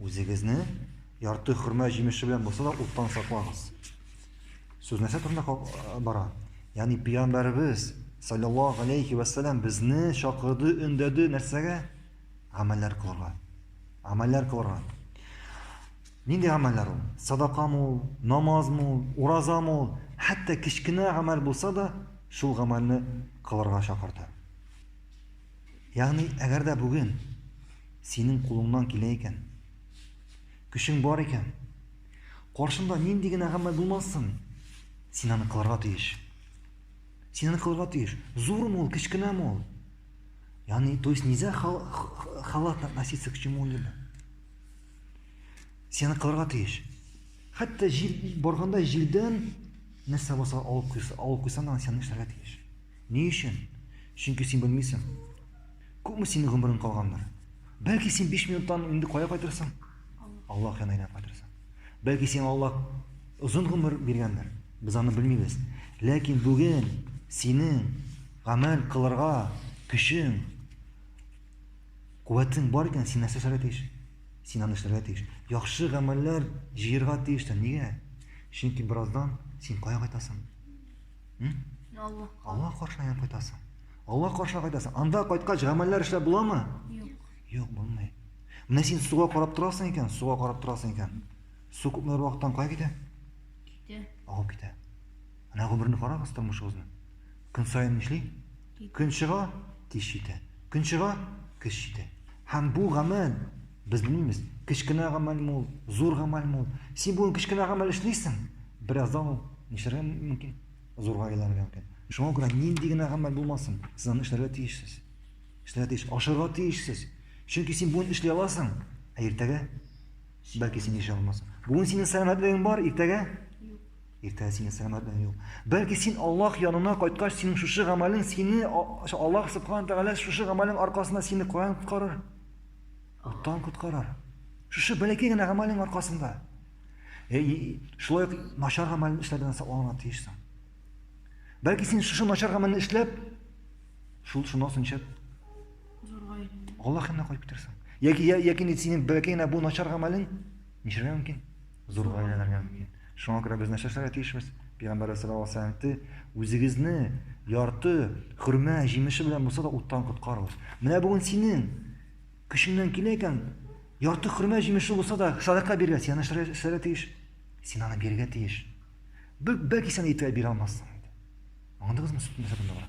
Үзегезне ярты хөрмә җимеше белән булса да уттан саклагыз. Сүз нәрсә турында бара? Ягъни пәйгамбәребез саллаллаһу алейхи ва саллям безне чакырды, өндәде нәрсәгә? Гамәлләр кылырга. Гамәлләр кылырга. Нинди гамәлләр ул? Садакамы ул, намазмы ул, уразамы ул? Хәтта кечкенә гамәл булса да, шул гамәлне кылырга чакырды. Ягъни, әгәр дә бүген синең кулыңнан килә икән, көчең бар икән, каршында нинди генә гамәл булмасын, син аны кылырга тиеш. Син аны кылырга тиеш. Зурмы ул, кечкенәме ул? Ягъни, то есть нельзя халатно относиться к чему-либо. Син аны кылырга тиеш. Хәтта җил барганда җирдән нәрсә булса алып куйса, алып куйсаң, син эшләргә тиеш. Ни өчен? Чөнки син белмисең. Күпме синең гомерең калгандыр? Бәлки син 5 минуттан инде кая кайтырсың? Аллаһ янына әйләнеп кайтырсың. Бәлки сиңа Аллаһ озын гомер биргәндер. Без аны белмибез. Ләкин бүген синең гамәл кылырга көчең, куәтең бар икән, син нәрсә эшләргә тиеш? Син аны эшләргә тиеш. Яхшы гамәлләр җыерга тиеш тә. Нигә? Чөнки бераздан син кая кайтасың? Алла. Алла каршына кайтасың. Алла каршына кайтасың. Анда кайткач гамәлләр эшләп буламы? Юк. Юк, булмый. Менә син суга карап торасың икән, суга карап торасың икән. Су күпме вакыттан кая китә? Китә. Агып китә. Менә гомерне карагыз тормышыгызны. Көн саен нишли? Көн чыга, кич җитә. Көн чыга, кеш җитә. Һәм бу гамәл, без белмибез, кечкенә гамәлме ул, зур гамәлме ул. Син бүген кечкенә гамәл эшлисең, бераздан ул нишләргә мөмкин? Зурга әйләнергә мөмкин. Шуңа күрә нинди генә гамәл булмасын, сез аны эшләргә тиешсез. Эшләргә тиеш, ашарга тиешсез. Чөнки син бүген эшли аласың, ә иртәгә бәлки син эшли алмассың. Бүген синең сәламәтлегең бар, иртәгә Иртән синең сәламәт белән юк. Бәлки син Аллаһ янына кайткач, синең шушы гамәлең сине Аллаһ субхана тәгалә шушы гамәлең аркасында сине каян коткарыр? Уттан коткарар. Шушы бәләкәй генә гамәлең аркасында. Э, шулай ук начар гамәлен эшләүдән сакланырга тиешсең. Бәлки син шушы начар гамәлне эшләп, шул шуннан соң ничек? Аллаһ янына кайтып китерсең. Яки яки синең бәләкәй генә бу начар гамәлең ничәргә мөмкин? зур гаиләләргә мөмкин. Шуңа күрә без нәрсәшләргә тиешбез? Пәйгамбәребез саллаллаһу алейһи ва сәлләм әйтте, Үзегезне ярты хөрмә җимеше белән булса да уттан коткарыгыз. Менә бүген синең көчеңнән килә икән, ярты хөрмә җимеше булса да садака бирергә, син нәрсәшләргә тиеш? Син аны бирергә тиеш. Бәлки сен әйтә бирә алмассың. Аңладыгызмы сүзнең нәрсә бар?